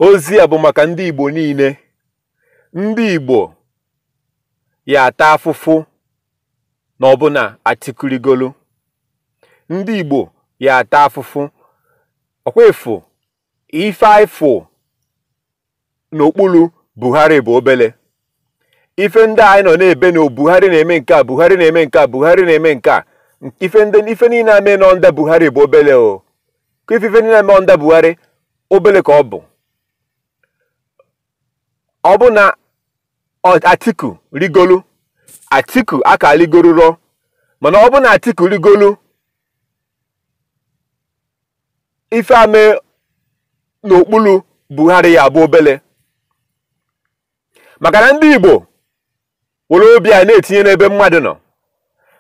ozi a bụ maka ndị Igbo niile ndị Igbo ya ata afụfụ na ọ bụ na Atiku rigolu ndị Igbo ya ata afụfụ ọ kwa ị fụ ife anyị fụ n'okpulu Buhari bụ obele ife ndị anyị nọ na-ebe na Buhari na-eme nke a Buhari na-eme nke a Buhari na-eme nke a ife ndị ife niile na-eme under Buhari bụ obele o ka ife ife niile na-eme under Buhari obele ka ọ bụ ọ bụ na Atiku rigolu Atiku aka rigorurọ mana ọ bụ na Atiku rigolu ife a me n'okpulu Buhari ya bụ obele maka na ndị Igbo were obi anyị na-etinye n'ebe mmadụ nọ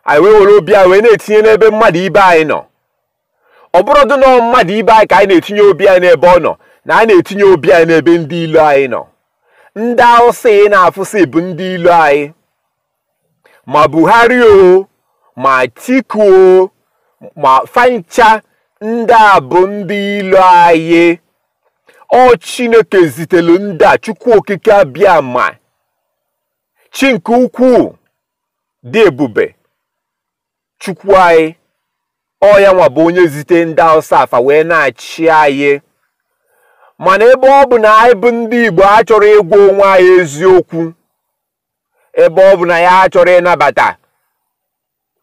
anyị wee were obi anyị wee na-etinye n'ebe mmadụ ibe anyị nọ ọ bụrọdị nọọ mmadụ ibe anyị ka anyị na-etinye obi anyị n'ebe ọ nọ na anyị na-etinye obi anyị n'ebe ndị ilo anyị nọ ndị awụsa ị na-afụsị bụ ndị ilo anyị ma Buhari o ma Atiku o ma fa ncha ndị a bụ ndị ilo anyị ọ Chineke zitelu ndị a Chukwu Okike Abịama chi nke ukwuu dị ebube Chukwu anyị ọ ya nwa bụ onye zite ndị Hausa a fa wee na-achị anyị mana ebe ọ bụ na anyị bụ ndị Igbo achọrọ ịgwa onwe anyị eziokwu ebe ọ bụ na anyị achọrọ ịnabata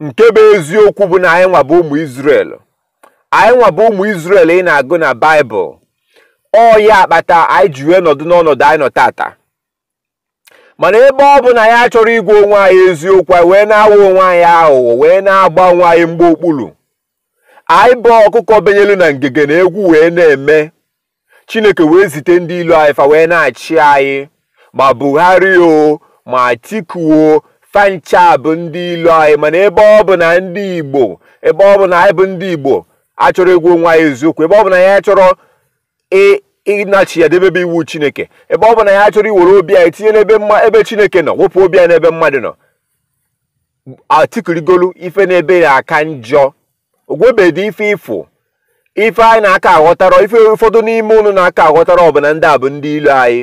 nke bụ eziokwu bụ na anyị nwa bụ ụmụ Izrel anyị nwa bụ ụmụ Izrel ị na-agụ na Baịbụl ọ ya akpata anyị ji wee nọdụ n'ọnọdụ anyị nọ taata mana ebe ọ bụ na anyị achọrọ ịgwa onwe anyị eziokwu anyị wee na-aghọ onwe anyị aghụghọ wee na-agba onwe anyị mgba okpulu anyị bụ ọkụkọ benyelu na ngige na egwu wee na-eme chineke wee zite ndị ilo anyị fa wee na-achị anyị ma buhari o ma atiku o fa ncha bụ ndị ilo anyị mana ebe ọ bụ na ndị igbo ebe ọ bụ na anyị bụ ndị igbo achọrọ ịgwa onwe anyị eziokwu ebe ọ bụ na anyị achọrọ e, ịnachigha debebe iwu chineke ebe ọ bụ na anyị achọrọ iwere obi anyị tinye n'ebe chineke nọ wepụ obi anyị n'ebe mmadụ nọ atiku rigolu ife n'ebe ya aka njọ ogwebedi ife ị fụ ife anyị na-aka aghọtarọ ife ụfọdụ n'ime ụnụ na-aka aghọtarọ bụ na ndị a bụ ndị ilo anyị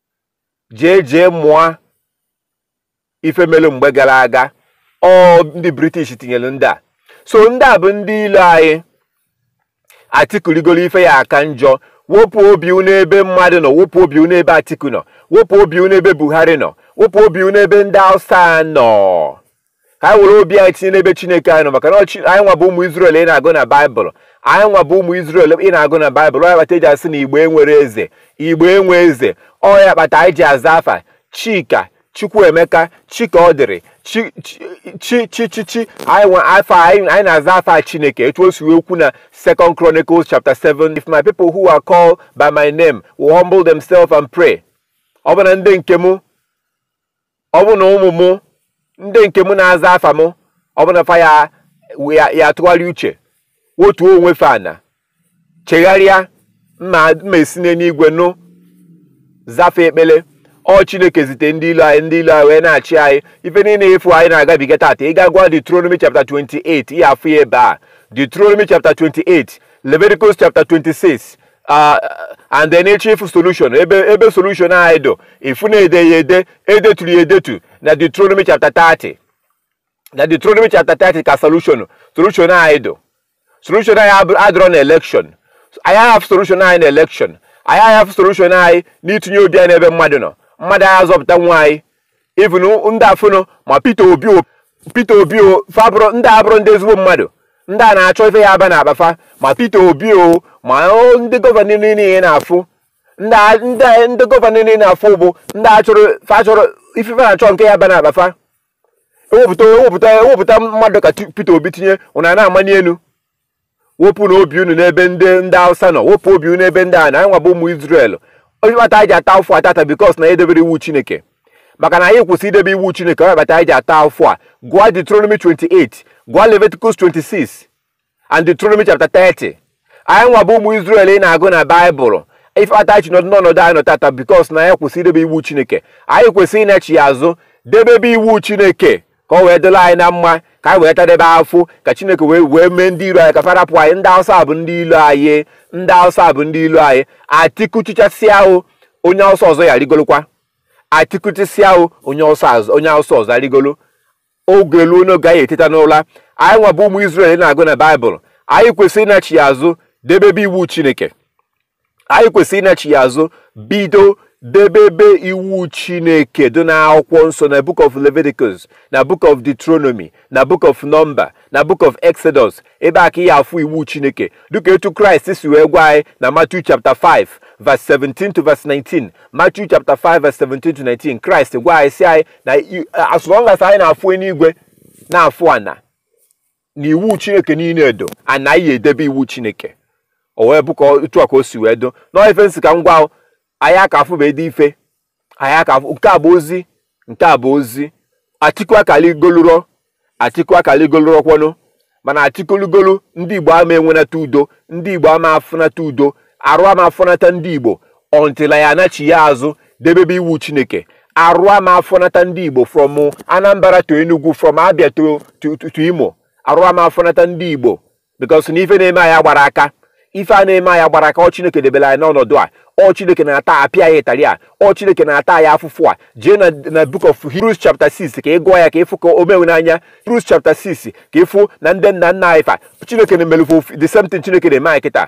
jee jee mụa ife melu mgbe gala aga ọ ndị british tinyelu ndị a so ndị a bụ ndị ilo anyị atiku rigolu ife ya aka njọ wepụ obi n'ebe mmadụ nọ wepụ obi n'ebe atiku nọ wepụ obi n'ebe buhari nọ wepụ obi n'ebe ndị hausa nọ ka anyị were obi anyị tinye n'ebe chineke anyị nọ maka na anyị nwa bụ ụmụ Izrel ị na-agụ na baịbụl anyị nwa bụ ụmụ Izrel ị na-agụ na baịbụl ọ ya kpata eji asị na igbo enwerọ eze igbo enwe eze ọ ya kpata anyị ji aza afa chika chukwuemeka chikaọdịrị chi chi chi anyị na-aza afa chineke etu o si wee kwu na second chronicles chapter 7 if my people who are called by my name will humble themselves and pray ọ bụ na ndị nke m ọ bụ na ụmụ m ndị nke m na-aza afa m ọ bụ na fa ya ya- ya atụgharị uche wotuo onwe fa ana chegharịa ma ma esi n'eluigwe nụ za fa ekpele ọ chineke zite ndị ilo anyị ndị ilo anyị wee na-achị anyị ife niile afụ anyị na-agabiga tata ị gaa gụa Deuteronomy chapter 28 ị ya afụ ya ebe a Deuteronomy chapter 28 Leviticus chapter 26 ah, and then ị chọọ ịfụ solution ebe ebe solution anyị dụ ị fụ na e de ya ede edeturu ya edetu na Deuteronomy chapter 30 na Deuteronomy chapter 30 ka solution solution anyị dụ solution anyị adịrọ na election anyị aha afụ solution anyị na election anyị aha afụ solution anyị n'itinye obi anyị n'ebe mmadụ nọ mmadụ aha azọpụtanwu anyị even ndị afụnụ ma Peter Obi Peter Obi fa abụrọ ndị abụrọ ndị ezigbo mmadụ ndị a na-achọ ife ya aba n'akpa fa ma Peter Obi o ma ndị gọvanọ niile afụ ndị gọvanọ niile afụ bụ ndị achọrọ fa achọrọ ife fa na-achọ nke ya aba n'akpa fa ewepụta ewepụta ewepụta mmadụ ka Peter Obi tinye unu a na-amanị elu wepụnụ obi unu n'ebe ndị ndị Hausa nọ wepụ obi unu n'ebe ndị a nọ anyị nwa bụ ụmụ Izrel ọ ya kpata anyị ji ata afụfụ a tata because na anyị edeberọ iwu Chineke maka na anyị kwụsị idebe iwu Chineke ọ ya kpata anyị ji ata afụfụ a gụọ Deuteronomy 28 gụọ Leviticus 26 and Deuteronomy chapter 30 anyị nwa bụ ụmụ Izrel ị na-agụ na Baịbụl ife kpata anyị nọdụ n'ọnọdụ anyị nọ tata because na anyị kwụsị idebe iwu Chineke anyị kwesịrị ịnachigha azụ debebe iwu Chineke ka ọ wee dịlị anyị na mma ka anyị wee tadebe afụfụ ka chineke wee wee mee ndị ilo anyị ka fa rapụ anyị ndị awụsa bụ ndị ilo anyị ndị awụsa bụ ndị ilo anyị Atiku chịchasịa o onye awụsa ọzọ ya arịgolokwa Atiku chịsịa o onye awụsa ọzọ arịgolo oge luo n'oge anyị eteta n'ụla anyị nwa bụ ụmụ Izrel ị na-agụ na baịbụl anyị kwesịrị ịnachigha azụ debebe iwu chineke anyị kwesịrị ịnachigha azụ bido debebe iwu chineke dị n'akwụkwọ nsọ na book of leviticus na book of deuteronomy na book of number na book of exodus ebe a ka ị ya afụ iwu chineke dịka etu kraịst si wee gwa anyị na matthew chapter 5 verse 17 to verse 19 matthew chapter 5 verse 17 to 19 kraịst gwa anyị sị anyị na as long as anyị na-afụ eluigwe na-afụ ana na iwu chineke niine edo a na anyị edebe iwu chineke o wee bụ ka otu a ka o si wee dụ nọọ ife m sị ka m gwa anyị aka afụbedị ife anyị aka afụ nke a bụ ozi nke a bụ ozi atiku aka ligoluro atiku aka ligoluro kwanụ mana atiku ligolu ndị igbo ama enwenata udo ndị igbo ama afụnata udo arụ ama afọnata ndị igbo until anyị anachiya azụ debebe iwu chineke arụ ama afọnata ndị igbo from anambra to enugu from abia to, to, to, to imo arụ ama afọnata ndị igbo because na ife na-eme anyị agbarọ aka ife a na-eme anyị agbarọ aka ọ chineke debere anyị n'ọnọdụ a ọ chineke na-ata apịa anyị ịtarị a ọ chineke na-ata anyị afụfụ a jee na na book of hebrews chapter 6 ka ị gụọ ya ka ị fụ ka o mewe n'anya hebrews chapter 6 ka ị fụ na ndị nna nna anyị fa chineke na-emelu fa the same thing chineke na-eme anyị kịta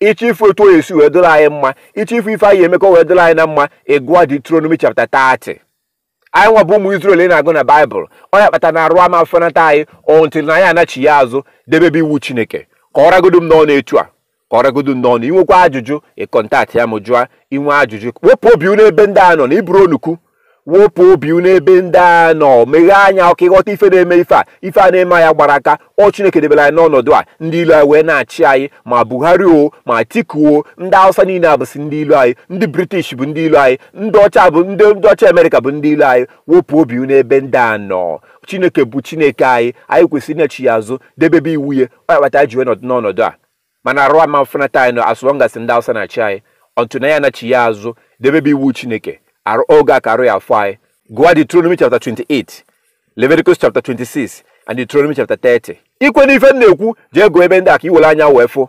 ị chọọ ịfụ etu ọ ya-esi wee dịrị anyị mma ị chọọ ịfụ ife anyị ya-eme ka ọ wee dịrị anyị na mma ị gụọ Deuteronomy chapter 30 anyị nwa bụ ụmụ Izrel ị na-agụ na baịbụl ọ ya kpata na arụ ama afọnata anyị until na anyị anachiya azụ debebe iwu Chineke ka ọ ragodu m n'ọnụ etu a ka ọ ragodu m n'ọnụ i nwekwa ajụjụ ị contactịa m jụa i nwee ajụjụ wepụ obi unu ebe ndị a nọ na ị bụrọ onukwu wepụ obi unu ebe ndị a nọ meghee anya o ka ị ghọta ife na-eme ife a ife a na-eme anyị agbarọ aka ọ chineke debere anyị n'ọnọdụ a ndị ilo anyị wee na-achị anyị ma buhari o ma atiku o ndị awụsa niine a bụsị ndị ilo anyị ndị british bụ ndị ilo anyị ndị ọcha bụ ndị ọcha america bụ ndị ilo anyị wepụ obi unu ebe ndị a nọ chineke bụ chineke anyị anyị kwesịrị ịnachiya azụ debebe iwu ya ọ ya kpata ji wee nọdụ n'ọnọdụ a mana arụ ama afọnata anyị na as long as ndị awụsa na-achị anyị until na anyị anachiya azụ debebe iwu chineke arụ oge a ka arụ ya-afọ anyị gụa Deuteronomy chapter 28 Leviticus chapter 26 and Deuteronomy chapter 30 i kwe n'ife m na-ekwu jee gụọ ebe ndị a ka i were anya wee fụ